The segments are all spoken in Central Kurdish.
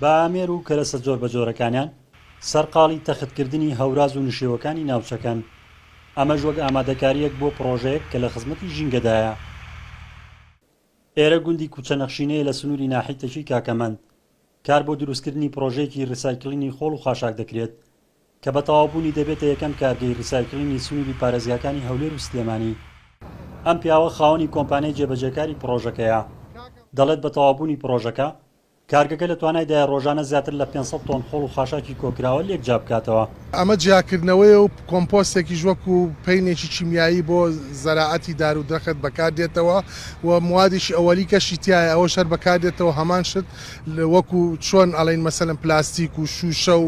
بە ئامێر و کەرەسە جۆربەجۆرەکانیان سەرقاڵی تەختکردنی هەوراز و نشێوەکانی ناوچەکەن، ئەمەش وەک ئامادەکارییەک بۆ پڕۆژەیەک کە لە خزمەتی ژینگەدایە. ئێرە گوندی کوچەنەخشینەیە لە سنووری ناحیتەکی کاکەمەند، کار بۆ دروستکردنی پڕۆژەیەکی ریسایکلینی خۆڵ و خاشاک دەکرێت کە بە تەواوبوونی دەبێتە یەکەم کارگەی ریسایکلینی سنووری پارێزگاکانی هەولێر و سلێمانی. ئەم پیاوە خاوەنی کۆمپانیای جێبەجێکاری پڕۆژەکەیە، دەڵێت بە تەواوبوونی پڕۆژەکە، کارگەکە لە توانایدایە رۆژانە زیاتر لە پێنج سەد تۆن خۆڵ و خاشاکی کۆکراوە لێکجیا بکاتەوە. ئەمە جیاکردنەوەیە و کۆمپۆستێکیش وەکو پەینێکی کیمیایی بۆ زەراعەتی دار و درەخت بەکاردێتەوە و موادێکی ئەوەلیکەشی تیایە ئەوەش هەر بەکاردێتەوە هەمان شت وەکو چۆن ئەڵێین مەسەلەن پلاستیک و شوشە و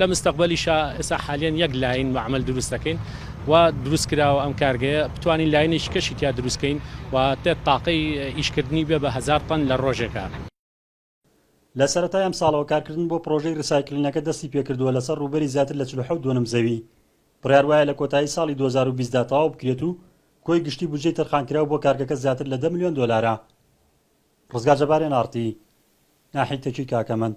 لە مستەقبەلیشا ئێسا حالیەن یەک لاین مەعمەل دروست دەکەین و دروست کراوە ئەم کارگەیە بتوانین لاینێکی کەشی تیا دروست کەین و تێت تاقەی ئیشکردنی بێ بە هەزار تەن لە ڕۆژێکا. لە سەرەتای ئەمساڵەوە کارکردن بۆ پڕۆژەی ریسایکلینەکە دەستی پێکردووە لەسەر ڕووبەری زیاتر لە چل و حەوت دۆنم زەوی بڕیار وایە لە کۆتایی ساڵی دوو هەزار و بیست دا تەواو بکرێت و کۆی گشتی بودجەی تەرخانکراو بۆ کارگەکە زیاتر لە دە ملیۆن دۆلارە. ڕزگار جەبار ئێن ئاڕ تی. ناحیەی تەکی کاکەمەند.